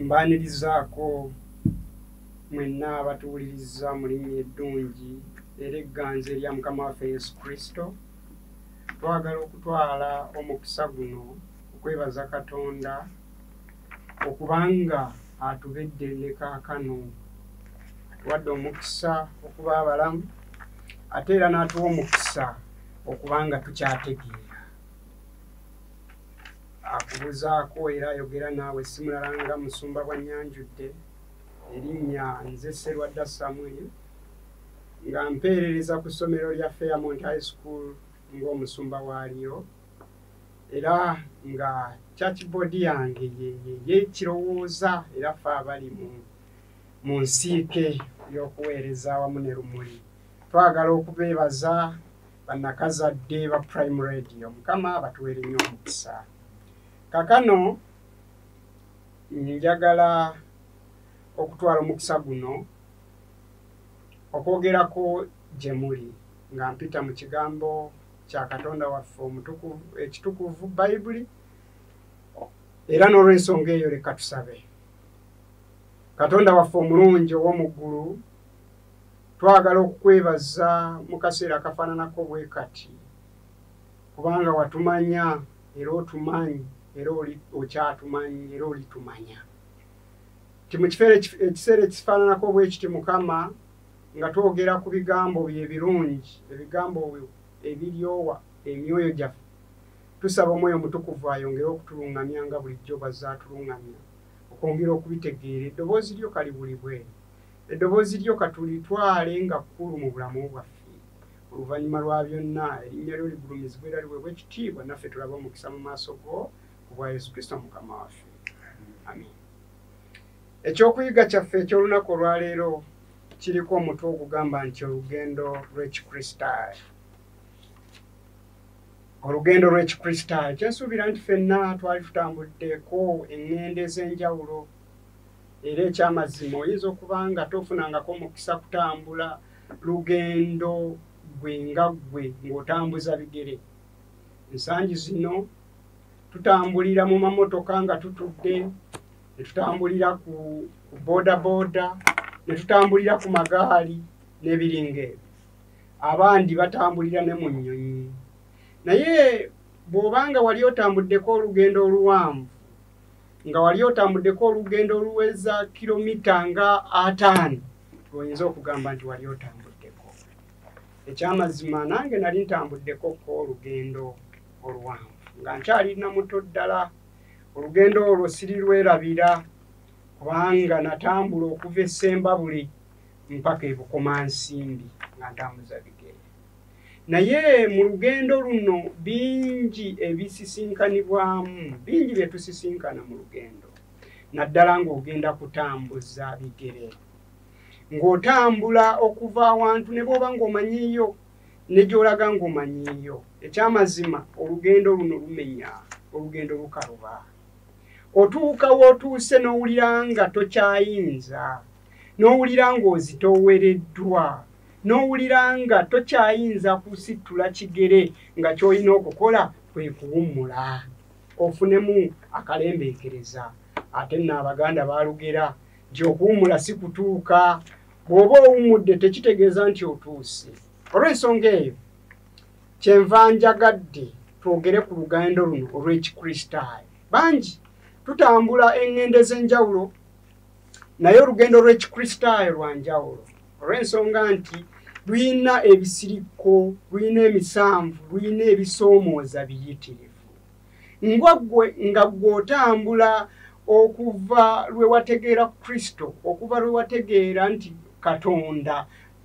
mbaanirizaako mwenna abatuwuliriza mu linnya eddungi era egganzi erya mukama waffe yesu kristo twagala okutwala omukisa guno okwebaza katonda okubanga atubedde ne kaakano atuwadde omukisa okuba abalamu ate era n'atuwa omukisa okubanga tukyategeera akubuzaako era ayogera naawe si mulala nga musumba bwa nyanjudde erinnya nze serwadda samuel nga mpeerereza ku ssomero lya fairmont high school ng'omusumba waalyo era nga churchboard yange yekirowooza era fe abali mu nsiike y'okuweereza wamu ne lumuli twagala okubeebaza banakazadde ba prime radio mukama batuwere nnyo omukisa kakano njagala okutwala omukisa guno okwogerako gye muli nga mpita mu kigambo kya katonda waffe omutukuvu ekitukuvu bayibuli era n'olwensonga eyo leka tusabe katonda waffe omulungi ow'omu ggulu twagala okukwebaza mu kaseera akafaananako bwe kati kubanga watumanya era otumanyi era okyatumanyi era olitumanya ti mu ekiseera ekifaananako bwe kiti mukama nga twogera ku bigambo bye ebirungi ebigambo ebiryowa emyoyo gyaffe tusaba omwoyo omutukuvu ayongere okutulungamya nga bulijjo bazze atulungamya okwongera okubitegeera eddoboozi lyo kaliwulibwe Eddoboozi lyo katulitwale nga kkulu mu bulamu bwaffe. Oluvannyuma lwa byonna, erinnya lyo ligulumizibwe era liweebwa ekitiibwa, naffe tulabe omukisa mu maaso go ku bwa Yesu Kristo Mukama waffe. Amin. Ekyokuyiga kyaffe eky'olunaku olwaleero kiriko omutwe ogugamba nti olugendo lw'ekikristaayo. Olugendo lw'ekikristaayo kyensuubira nti fenna twali tutambuddeko eŋŋendo ez'enjawulo. era ekyamazima oyinza okuba nga tofunangako mukisa kutambula lugendo gwe nga ggwe ng'otambuza bigere ensangi zino tutambulira mu mamotoka nga tutudde ne tutambulira ku bodaboda ne tutambulira ku magaali n'ebiringa ebyo abandi batambulira ne mu nnyonyi naye bw'obanga wali otambuddeko olugendo oluwanvu nga wali otambuddeko olugendo oluweza kilomita nga ataano lwoyinza okugamba nti wali otambuddeko ekyamazima nange nali ntambuddeko ko olugendo oluwanvu nga nkyali namuto ddala olugendo olwo sirirwerabira kubanga natambula okuva esembabuli mpaka ebukomansimbi nga ntambuza bigere naye mu lugendo luno bingi ebisisinkanibwamu bingi bye tusisinkana mu lugendo naddala ng'ogenda kutambuza bigere ng'otambula okuva awantu ne bwoba ng'omanyiiyo ne gy'olaga ng'omanyiiyo ekyamazima olugendo luno lumenya olugendo lukaluba otuuka w'otuuse n'owulira nga tokyayinza n'owulira ng'ozitoowereddwa n'owulira nga tokyayinza kusittula kigere nga ky'olina okukola kwe kuwummula ofunemu akalembeekereza ate nno abaganda baalugera nti okuwummula si kutuuka bw'oba owummudde tekitegeeza nti otuuse olw'ensonga eyo kyenva njagadde twogere ku lugendo luno olw'ekikristaayo bangi tutambula eŋŋendo ez'enjawulo naye olugendo lw'ekikristaayo lwa njawulo olw'ensonga nti lulina ebisirikko lulina emisanvu lulina ebisoomooza biyitirivu nga gwe nga gw'otambula okuva lwe wategeera kristo okuva lwe wategeera nti katonda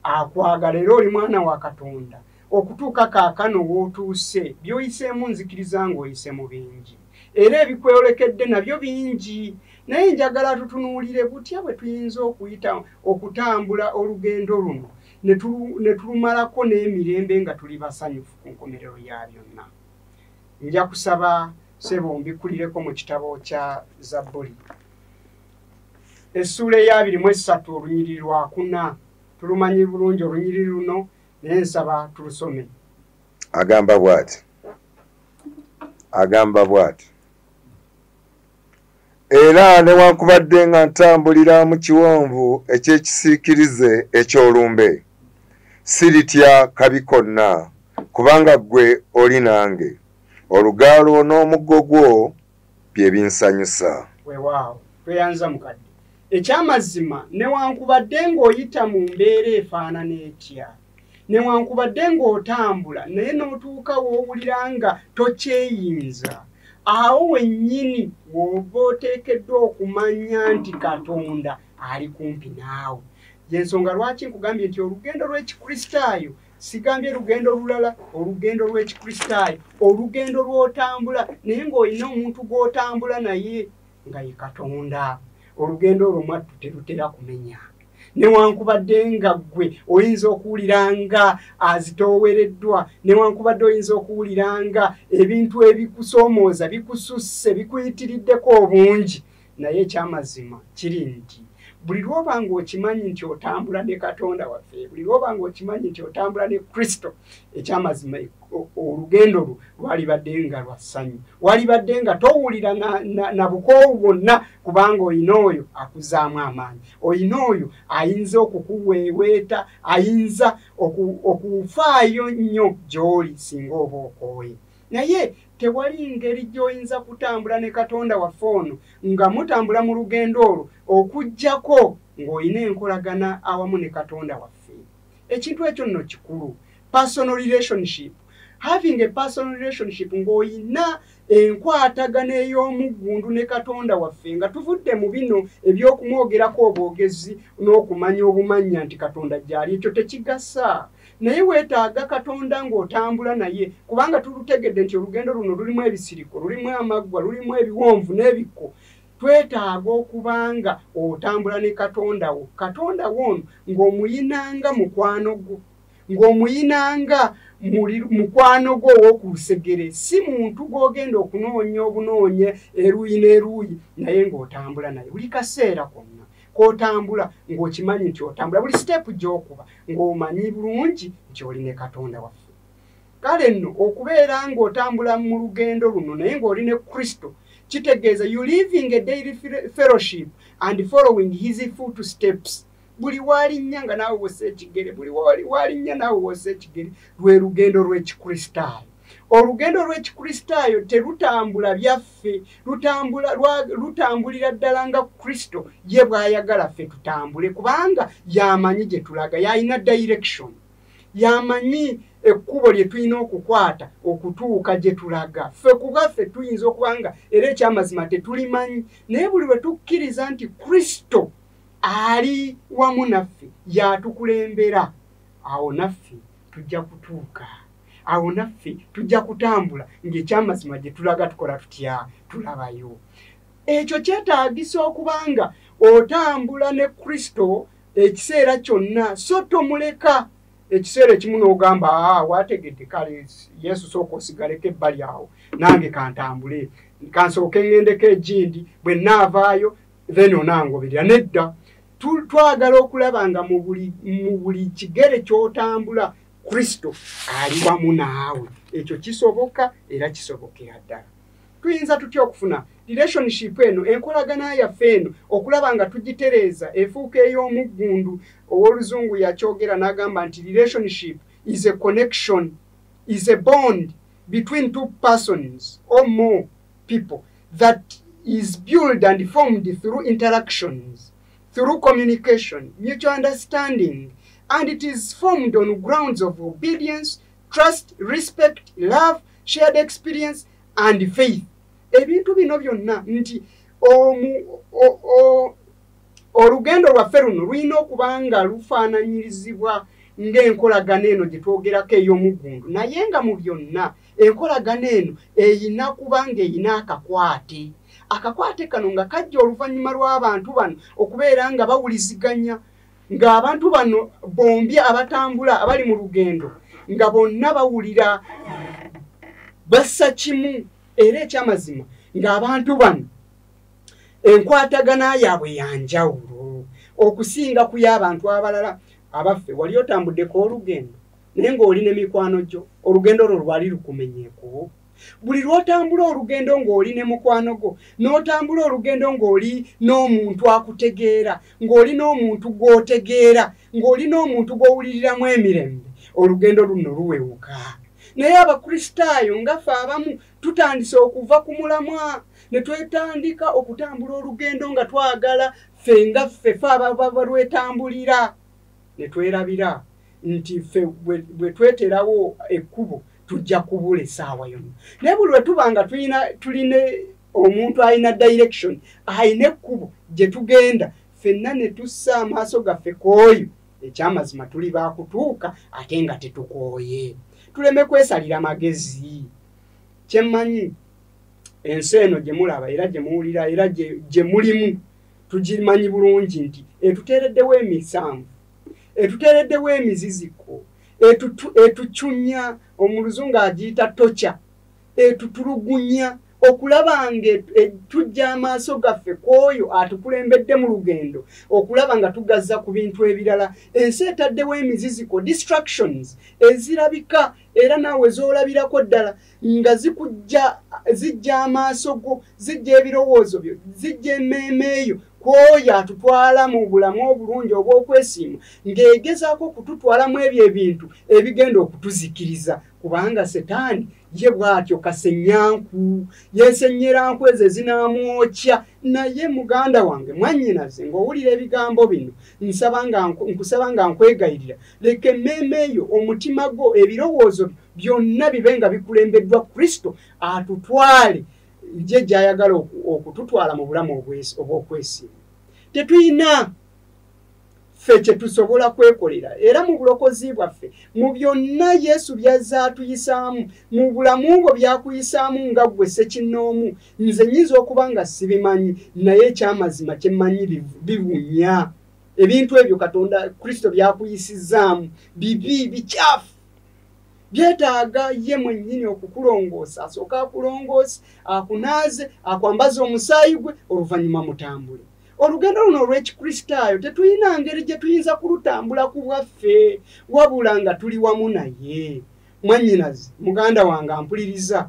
akwagala era oli mwana wa katonda okutuuka kaakano w'otuuse by'oyiseemu nzikiriza ng'oyise mu bingi era ebikweyolekedde nabyo bingi naye njagala tutunuulire butya bwe tuyinza okuyita okutambula olugendo luno ne tulumalako n'emirembe nga tuli basanyufu ku nkomerero ya byonna nja kusaba sebo mbikulireko mu kitabo kya zabbuli essuula eyabiri mu essatu olunyiriri lwakuna tulumanyi bulungi olunyiriri luno naye nsaba tulusome agamba bwati agamba bwati era newankubadde nga ntambulira mu kiwonvu eky'ekisiikirize eky'olumbe siritya kabi konna kubanga ggwe oli nange olugaalo n'omuggo gwo byebinsanyusa wewaawo tweyanza mukadde ekyamazima newankubadde ng'oyita mu mbeera efaanana etya newankubadde ng'otambula naye n'otuuka w'owulira nga tokyeyinza awo wennyini w'oba oteekeddwa okumanya nti katonda ali kumpi naawe yensonga lwaki nkugambye nti olugendo lw'ekikristaayo sigambye lugendo lulala olugendo lw'ekikristaayo olugendo lw'otambula naye ng'olina omuntu gw'otambula naye nga ye katonda olugendo olwo mwattu terutera kumenya newankubadde nga ggwe oyinza okuwulira nga azitoowereddwa newankubadde oyinza okuwulira nga ebintu ebikusoomooza bikususse bikuyitiriddeko obungi naye ekyamazima kiri nti buli lwoba nga okimanyi nti otambula ne katonda waffe buli lwoba nga okimanyi nti otambula ne kristo ekyamazima olugendo lwo lwalibadde nga lwa ssanyu walibadde nga towulira na bukoowu bwonna kubanga olina oyo akuzaamu amaanyi olina oyo ayinza okukuweeweeta ayinza okufaayo nnyo gy'oli singa oba okooye naye tewali ngeri gy'oyinza kutambula ne katonda waffe ono nga mutambula mu lugendo olwo okuggyako ng'olina enkolagana awamu ne katonda waffe ekintu ekyo nno kikulu personal relationship having a personal relationship ng'olina enkwatagana ey'omuggundu ne katonda waffe nga tuvudde mu bino eby'okumwogerako obwogezi n'okumanya obumanya nti katonda gyali ekyo tekigasa naye weetaaga katonda ng'otambula naye kubanga tulutegedde nti olugendo luno lulimu ebisiriko lulimu amaggwa lulimu ebiwonvu n'ebikko twetaaga okuba nga otambula ne katonda wo katonda wo ono ng'omuyinanga mukwano gwo ng'omuyinanga mukwano gwo ow'okulusegere si muntu gw'ogenda okunoonya obunoonye eruuyi n'eruuyi naye ng'otambula naye buli kaseera konna kotambula ng'okimanyi nti otambula buli siteepu gy'okuba ng'omanyi bulungi nti oli ne katonda waffe kale nno okubeera ng'otambula mu lugendo luno naye ng'oli ne kristo kitegeeza you living a daily fellowship and following his foot steps buli walinnya nga naawe wosa ekigere buli walinnya naawe wosa ekigere lwe lugendo lw'ekikristaayo olugendo lw'ekikristaayo terutambula byaffe lwaffe lutambula lutambulira ddala nga kristo ye bw'ayagala ffe tutambule kubanga yamanyi gye tulaga yalina direction yamanyi ekkubo lye tulina okukwata okutuuka gye tulaga ffe kuba ffe tuyinza okuba nga era ekyamazima tetulimanyi naye buli bwe tukkiriza nti kristo ali wamu naffe yatukulembera awo naffe tujja kutuuka awo naffe tujja kutambula ng'ekyamazima gye tulaga tukola tutya tulabayo ekyo kyetaagisa okuba nga otambula ne kristo ekiseera kyonna so tomuleka ekiseera ekimu n'ogamba ah, wategedde kale yesu sooka osigaleko ebbali awo nange kantambule kansooke ŋŋendeko egindi bwe naavaayo then onangoberera nedda twagala okulaba nga mu buli kigere ky'otambula kristo ali wamu naawe ekyo kisoboka era kisobokera ddala tuyinza tutya okufuna relationship eno enkolagana yaffe eno okulaba nga tugitereeza efuuka ey'omuggundu ow'oluzungu yakyogera n'agamba nti relationship is a connection is a bond between two persons or more people that is build and formed through interactions through communication, mutual understanding, and it is formed on grounds of obedience, trust, respect, love, shared experience, and faith. Ebintu bino byonna nti olugendo lwaffe luno lulina okuba nga lufaananyirizibwa ng'enkolagana eno gye twogerako ey'omuggundu naye nga mu byonna enkolagana eno eyina kuba ng'eyina akakwate akakwate kano nga kajja oluvannyuma lw'abantu bano okubeera nga bawuliziganya ng'abantu bano bombi abatambula abali mu lugendo nga bonna bawulira bassa kimu era ekyamazima ng'abantu bano enkwatagana yaabwe yanjawulo okusinga ku y'abantu abalala abaffe wali otambuddeko olugendo naye ng'oli ne mikwano gyo olugendo olwo lwali lukumenyeeko buli lw'otambula olugendo ng'oli ne mukwano gwo n'otambula olugendo ng'oli n'omuntu akutegeera ng'oli n'omuntu gw'otegeera ng'oli n'omuntu gw'owuliriramu emirembe olugendo luno luwewuka naye abakristaayo ngafe abamu tutandise okuva ku mulamwa ne twetandika okutambula olugendo nga twagala ffe nga ffe fe ababalwetambulira ne twerabira nti ffe bwe tweterawo ekkubo tujja kubula essaawa yonna naye buli lwe tuba nga tulina tulina omuntu alina direction alina ekkubo gye tugenda ffenna ne tussa amaaso gaffe ku oyo ekyamazima tuli baakutuuka ate nga tetukooye tuleme kwesalira magezi kyemmanyi ensi eno gye mulaba era gye muwulira era gye mulimu tugimanyi bulungi nti etuteereddewo emisanvu etuteereddewo emiziziko etucunya omuluzungu agiyita tokya etutulugunya okulaba nga e, e, tujja amaaso gaffe ku oyo atukulembedde mu lugendo okulaba nga tugazza ku bintu ebirala ensi etaddewo emiziziko distractions ezirabika era naawe z'olabirako ddala nga zikujja zijja amaaso go zijja ebirowoozo byo zijja emmeeme eyo kwoyo atutwala mu bulamu obulungi obw'okwesiima ng'egezaako okututwalamu ebyo ebintu ebigenda okutuzikiriza kubanga setaani ye bw'atyo kasenyanku yesenyeranku ezo ezinamwokya naye muganda wange mwanyinaze ng'owulira ebigambo bino nkusaba nga nkwegayirira leka emmeeme eyo omutima gwo ebirowoozo byo byonna bibe nga bikulembeddwa kristo atutwale ye gyayagala okututwala mu bulamu obw'okwesimba tetulina ffe kyetusobola kwekolera era mu bulokozi bwaffe mu byonna yesu byazza atuyisaamu mu bulamu bwo byakuyisaamu nga ggwe sekinnoomu nze nyinza okuba nga sibimanyi naye ekyamazima kyemmanyi biwunya ebintu ebyo katonda kristo byakuyisizaamu bibi bikyafu byetaaga ye mwennyini okukulongoosa asooke akulongoose akunaaze akwambaze omusaayi gwe oluvannyuma mutambule olugendo luno olw'ekikristaayo tetulina ngeri gye tuyinza kulutambula ku bwaffe wabula nga tuli wamu naye mwannyinazi muganda wange ampuliriza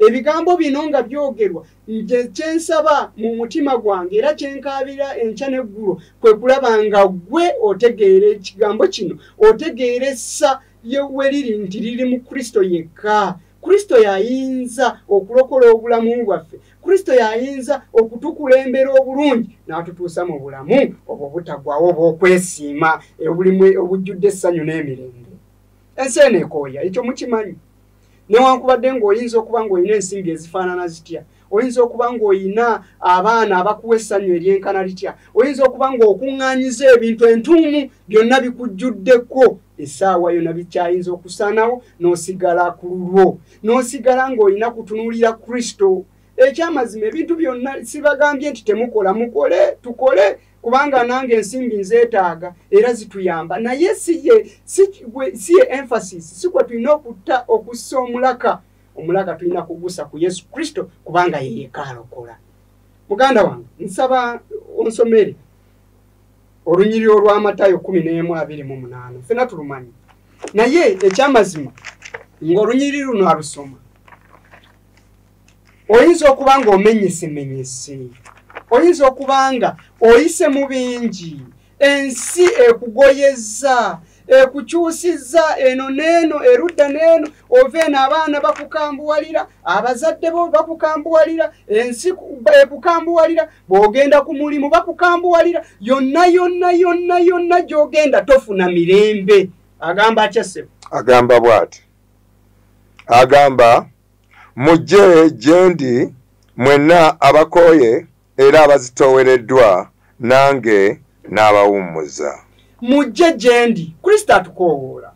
ebigambo bino nga byogerwa nze kyensaba mu mutima gwange era kyenkaabira enkya n'eggulo kwe kulaba nga ggwe otegeera ekigambo kino otegeera essa we liri nti liri mu kristo yekka kristo yayinza okulokola obulamu bwaffe kristo yayinza okutukulembera obulungi n'atutuusa mu bulamu obwo butagwawo obwokwesiima obulimu obujjudde essanyu n'emirembe ensi eno ekooya ekyo mukimanyi newankubadde ng'oyinza okuba ng'olina ensimbi ezifaanana zitya oyinza okuba ng'olina abaana abakuwa essanyu eryenkana litya oyinza okuba ng'okuŋŋaanyiza ebintu entuumu byonna bikujjuddeko essaawa yona bikyayinza okusanawo n'osigala ku lulwo n'osigala ng'olina kutunuulira kristo ekyamazima ebintu byonna sibagambye nti temukola mukole tukole kubanga nange ensimbi nzeetaaga era zituyamba naye siye siye emphasis sikwe tulina okutta okussa omulaka omulaka tulina kugusa ku yesu kristo kubanga yeyekaalokola muganda wange nsaba onsomere olunyiriri olw'amatayo kumi n'emu abiri mu munaana fena tulumanyi naye ekyamazima ng'olunyiriri luno alusoma oyinza okuba nga omenyesemenyese oyinza okuba nga oyise mu bingi ensi ekugoyezza ekukyusizza eno neeno erudda neeno ova eno abaana bakukambuwalira abazadde bo bakukambuwalira ensi ekukambuwalira bwogenda ku mulimu bakukambuwalira yonna yonna yonna yonna gyogenda tofuna mirembe agamba akyasebo agamba bwati agamba mujje gyendi mwenna abakooye era abazitoowereddwa nange n'abawummuza mujje gyendi kristo atukoowoola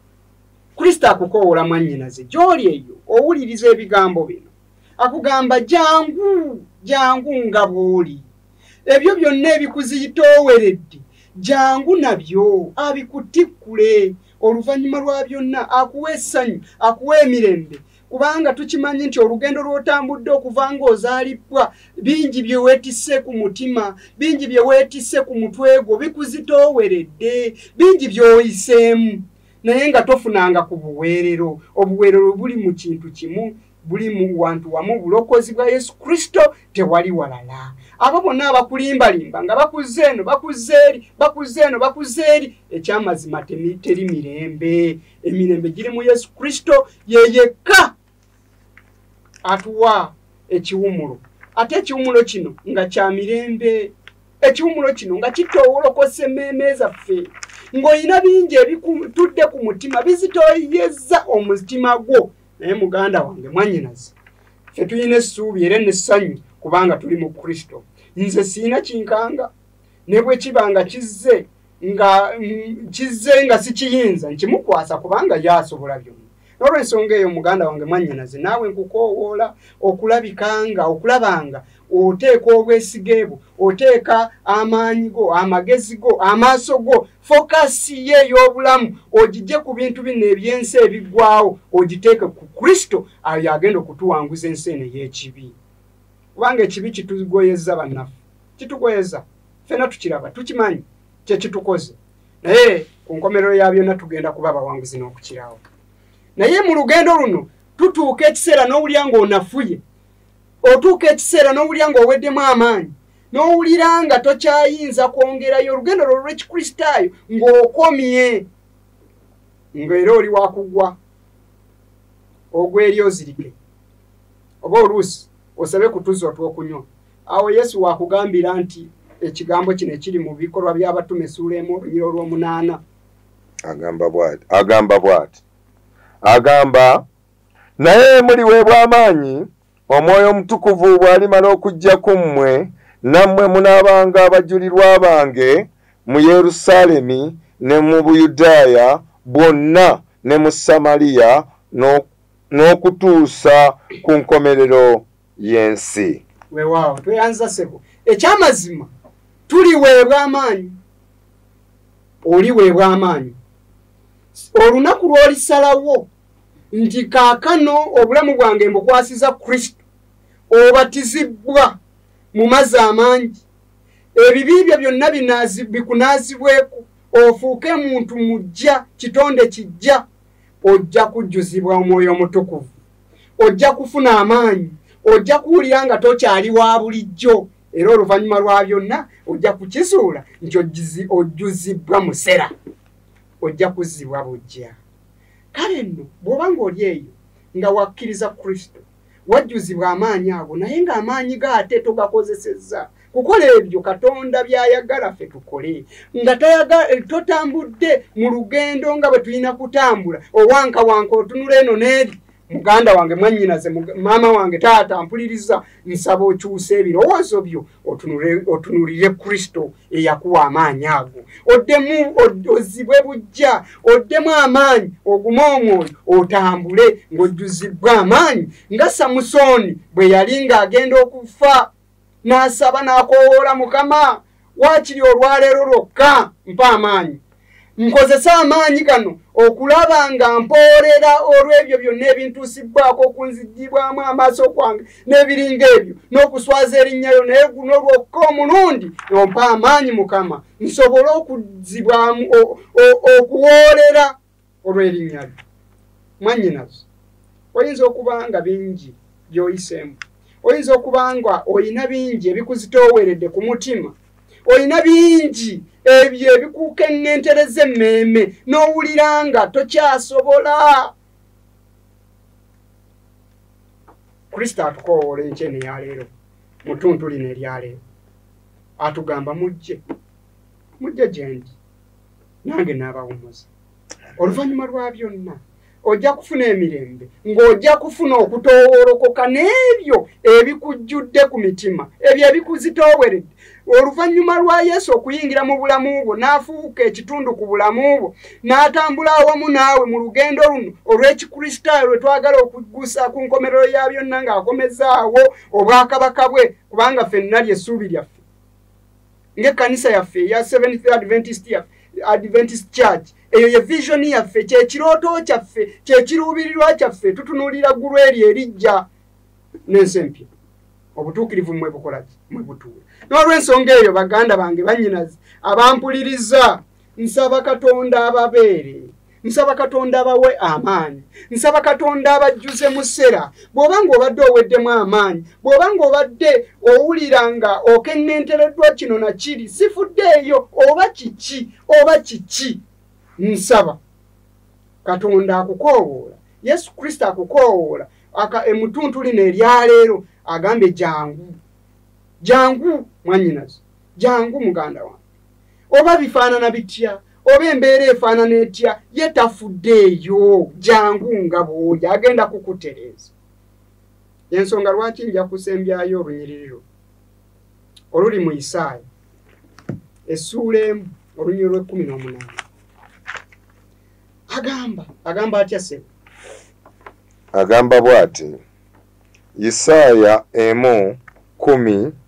kristo akukoowoola mwannyinaze gy'oli eyo owuliriza ebigambo bino akugamba jangu jangu nga bw'oli ebyo byonna ebikuziyitooweredde jangu nabyo abikutikkule oluvannyuma lwa byonna akuwa essanyu akuwa emirembe kubanga tukimanyi nti olugendo lw'otambudde okuva ng'ozaalibbwa bingi bye weetisse ku mutima bingi bye weetisse ku mutwe gwo bikuzitooweredde bingi by'oyiseemu naye nga tofunanga ku buweerero obuweerero buli mu kintu kimu buli mu wantu wamu bulokozi bwa yesu kristo tewali walala abo bonna abakulimbalimba nga bakuzza eno bakuzza eri bakuzza eno bakuzza eri ekyamazima teri mirembe emirembe giri mu yesu kristo yeyekka atuwa ekiwumulo ate ekiwumulo kino nga kya mirembe ekiwumulo kino nga kitowolokosa emmeeme zaffe ng'olina bingi ebitudde ku mutima bizitoyezza omutima gwo naye muganda wange mwanyinazi ffe tulina essuubi era nessanyu kubanga tuli mu kristo nze siina kinkanga ne bwe kiba nga kizze nga mm, kizze nga sikiyinza nkimukwasa kubanga yasobola byonna nolwensonga eyo muganda wange mwanyinazi naawe nkukoowoola okulabikanga okulabanga oteeka obwesige bwo oteeka amaanyi go amagezi go amaaso go fokasi ye ey'obulamu ogijje ku bintu bino ebyensi ebiggwawo ogiteeke ku kristo ayo agenda okutuwanguza ensi eno ey'ekibi kubanga ekibi kitugoyeza bannaffe kitugoyeza fena tukiraba tukimanyi kyekitukoze naye ku nkomerero ya byonna tugenda kuba abawanguzi n'okukirawo naye mu lugendo luno tutuuka ekiseera n'owulya ng'onafuye otuuka ekiseera n'owulira ng'oweddemu amaanyi n'owulira nga tokyayinza kwongerayo olugendo lwo lw'ekikristaayo ng'okomye ng'era oli wakugwa ogweri ozirike oba oluusi osabe kutuza otwokunywa awo yesu wakugambira nti ekigambo kino ekiri mu bikolwa by'abatume esuula emu olunyira olw'omunaana agamba bwati agamba bwati agamba naye muliweebwa amaanyi omwoyo omutukuvu bw'alimala okujja ku mmwe nammwe munaabanga abajulirwa bange mu yerusaalemi ne mu buyudaaya bwonna ne mu samaliya n'okutuusa ku nkomerero y'ensi wewaawo tweyanza sebo ekyamazima tuliweebwa amaanyi oliweebwa amaanyi olunaku lw'olisalawo nti kaakano obulamu bwange mbukwasiza kristo obatizibbwa mu mazzi amangi ebibi byo byonna bikunaazibweko ofuuke muntu mujja kitonde kijja ojja kujjuzibwa omwoyo omutukuvu ojja kufuna amaanyi ojja kuwulira nga tokyali wa bulijjo era oluvannyuma lwa byonna ojja kukizuula nti ojjuzibbwa musera ojja kuzzibwa bujja kale nno bw'oba ng'oli eyo nga wakkiriza kristo wajjuzibwa amaanyi ago naye ng'amaanyi ga ate togakozesezza kukola ebyo katonda by'ayagala ffe tukole nga totambudde mu lugendo nga bwe tulina kutambula owankawanka otunula eno n'eri muganda wange mwannyinaze maama wange taata mpuliriza nsaba okyusa ebirowoozo byo otunulire kristo eyakuwa amaanyi ago oddemu ozibwe bujja oddemu amaanyi ogume omwoyo otambule ng'ojjuzibbwa amaanyi nga samusooni bwe yali ng'agenda okufa n'asaba n'akowoola mukama waakiri olwaleero lwokka mpa amaanyi nkozesa amaanyi gano okulaba nga mpoolera olw'ebyo byonna ebintuusibbwako okunzigibwamu amaaso kwange n'ebiringa ebyo n'okuswaza erinnyayo naye guno lwokka omulundi ompa amaanyi mukama nsobole okudzibwamu okuwoolera olw'erinnya lyo mwannyinazo oyinza okuba nga bingi by'oyiseemu oyinza okuba nga olina bingi ebikuzitooweredde ku mutima olina bingi ebyo ebikukenentereza emmeeme n'owulira nga tokyasobola kristo atukowoola enkye neyaleero mutuntu lino eryaleero atugamba mujje mujje gyendi nange n'abawumuza oluvannyuma lwa byonna ojja kufuna emirembe ng'ojja kufuna okutoowolokoka n'ebyo ebikujjudde ku mitima ebyo ebikuzitooweredde oluvannyuma lwa yesu okuyingira mu bulamu bwo n'afuuka ekitundu ku bulamu bwo n'atambula awamu naawe mu lugendo luno olw'ekikristaayo lwe twagala okuggusa ku nkomerero ya byonna ng'akomezaawo obwakabaka bwe kubanga fenna ly'essuubi lyaffe ng'ekkanisa yaffe eya seventh adventist yaffe adventist church eyo ye vision yaffe kyekirooto kyaffe kyekiruubirirwa kyaffe tutunuulira ggulu eryo erijja n'ensi empya obutuukirivu mmwe bukolaki mwe butuula n'olw'ensonga eyo baganda bange bannyinazi abampuliriza nsaba katonda ababeere nsaba katonda abawe amaanyi nsaba katonda abajjuze mu ssera bw'oba ng'obadde oweddemu amaanyi bw'oba ng'obadde owulira nga okeŋŋentereddwa kino na kiri sifuddeeyo oba kiki oba kiki nsaba katonda akukoowoola yesu kristo akukoowoola emutuntu lino eryaleero agambye jangu jangu mwanyinazi jangu muganda wange oba bifaanana bitya oba embeera efaanana etya ye tafudde eyo jangu nga bwoyo agenda kukutereeza ensonga lwaki nja kusembyayo olunyiriro oluli mu isaaya essuula emu olunyiri lw'ekkumi n'omunaana agamba agamba atya sebo agamba bw'ati isaaya emu kumi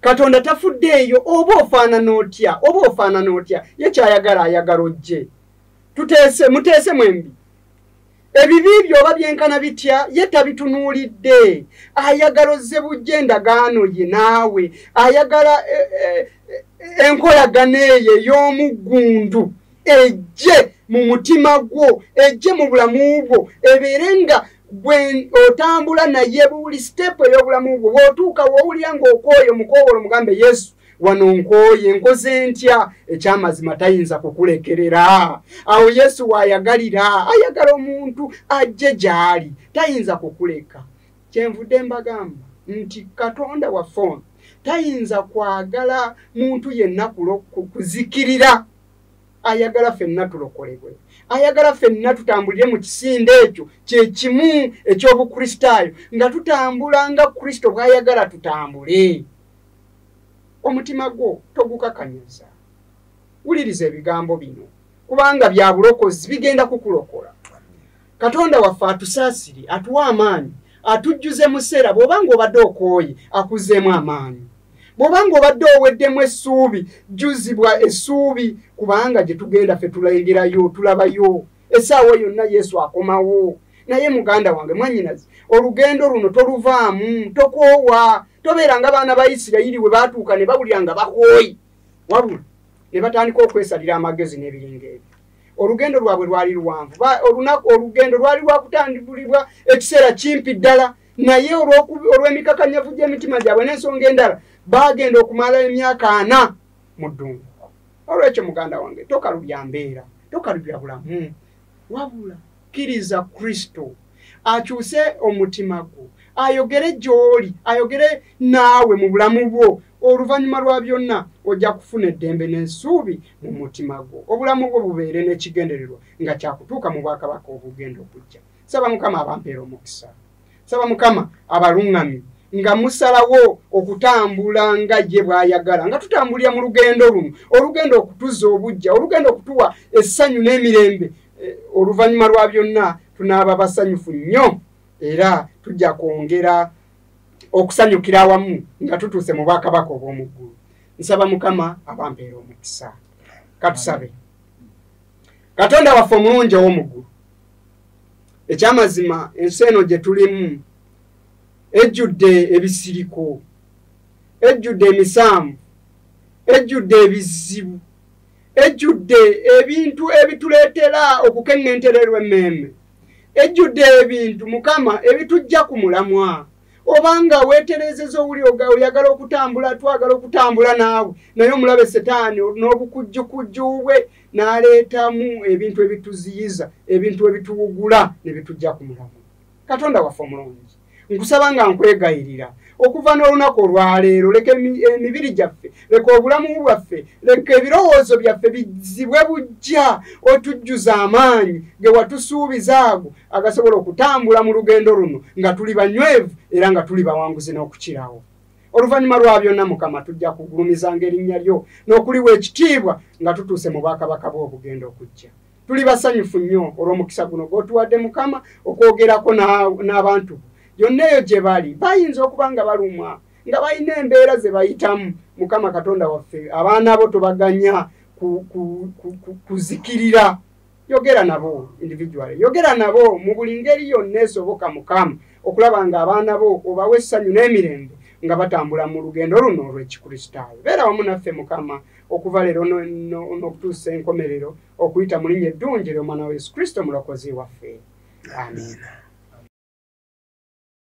katonda tafuddeeyo oba ofaanana otya oba ofaanana otya ye kyayagala ayagala ojje tuteese muteese mwembi ebibi byoba byenkana bitya ye tabitunuulidde ayagala ozze bujja endagaano ye naawe ayagala e, e, e, enkolagana eyo ey'omuggundu ejje mu mutima gwo ejje mu bulamu bwo ebeere nga gwe otambula naye buli sitepu ey'obulamu bwo bw'otuuka w'owulira ng'okwoyo mukowolo mugambe yesu wano nkooye nkoze ntya ekyamazima tayinza kukulekerera awo yesu waayagalira ayagala omuntu ajje gy'ali tayinza kukuleka kyenvudde mbagamba nti katonda waffe ono tayinza kwagala muntu yenna kuzikirira ayagala fenna tulokolebwe ayagala fenna tutambulire mu kisinde ekyo kyekimu ekyobukristaayo nga tutambula nga kristo bwayagala tutambule omutima gwo togukakanyaza wuliriza ebigambo bino kubanga bya bulokozi bigenda kukulokola katonda waffe atusaasire atuwa amaanyi atujjuze mu seera bw'oba ng'obadde okooye akuzeemu amaanyi bw'oba ng'obadde oweddemu essuubi jjuzibwa essuubi kubanga gye tugenda ffe tulegerayo tulabayo essaawa yonna yesu akomawo naye muganda wange mwanyinazi olugendo luno toluvaamu tokoowa tobeera nga baana ba isirayiri we baatuuka ne bawulira nga bakooyi wabula ne batandika okwesalira amagezi n'ebiringa ebyo olugendo lwabwe lwali luwanvu olunaku olugendo lwali lwakutandibulibwa ekiseera kimpi ddala naye olw'emikakanyavu gy'emitima gyabwe n'ensonga endala baagenda okumala emyaka ana mu ddungu olwekyo muganda wange tokalubya mbeera tokalubya bulamu wabula kkiriza kristo akyuse omutima gwo ayogere gy'oli ayogere naawe mu bulamu bwo oluvannyuma lwa byonna ojja kufuna eddembe n'ensuubi mu mutima gwo obulamu bwo bubeere n'ekigendererwa nga kyakutuuka mu bwakabaka obugenda okujja saba mukama abampeera omukisa saba mukama abaluŋŋami nga musalawo okutambula nga ye bw'ayagala nga tutambulira mu lugendo luno olugenda okutuzza obujja olugenda okutuwa essanyu n'emirembe eh, oluvannyuma lwa byonna tunaaba basanyufu nnyo era tujja kwongera okusanyukira awamu nga tutuuse mu bwakabaka obw'omu ggulu nsaba mukama abampeera omukisa katusabe katonda waffe omulungi ow'omu ggulu ekyamazima ensi eno gye tulimu ejjudde ebisiriko ejjudde emisaamu ejjudde ebizibu ejjudde ebintu ebituleetera okukeŋŋentererwa emmeeme ejjudde ebintu mukama ebitujja ku mulamwa obanga weterezeza owuli oyagala okutambula twagala okutambula naawe naye omulabe setaani n'obukujjukujju bwe n'aleetamu ebintu ebituziyiza ebintu ebituwugula ne bitujja ku mulamwa katonda waffe omulungi nkusaba nga nkwegayirira okuva n'olunaku olwaleero leka emibiri gyaffe leka obulamu bwaffe leka ebirowoozo byaffe bizibwe bujja otujjuza amaanyi ge watusuubiza ago agasobola okutambula mu lugendo luno nga tuli banywevu era nga tuli bawanguzi n'okukirawo oluvannyuma lwa byonna mukama tujja kugulumizanga erinnya lyo n'okuliwa ekitiibwa nga tutuuse mu bwakabaka bw'obugenda okujja tuli basanyufu nnyo olw'omukisa guno gw'otuwadde mukama okwogerako n'abantu yonna eyo gye bali bayinza okuba nga balumwa nga balina embeera ze bayitamu mukama katonda waffe abaana bo tubaganya kuzikirira yogera nabo individually yogera nabo mu buli ngeri yonna esoboka mukama okulaba nga abaana bo obawa essanyu n'emirembe nga batambula mu lugendo luno olw'ekikristaayo beera wamu naffe mukama okuva leero n'okutuusa enkomerero okuyita mu linnya eddungi ly'omwana wa yesu kristo mulokozi waffe amiina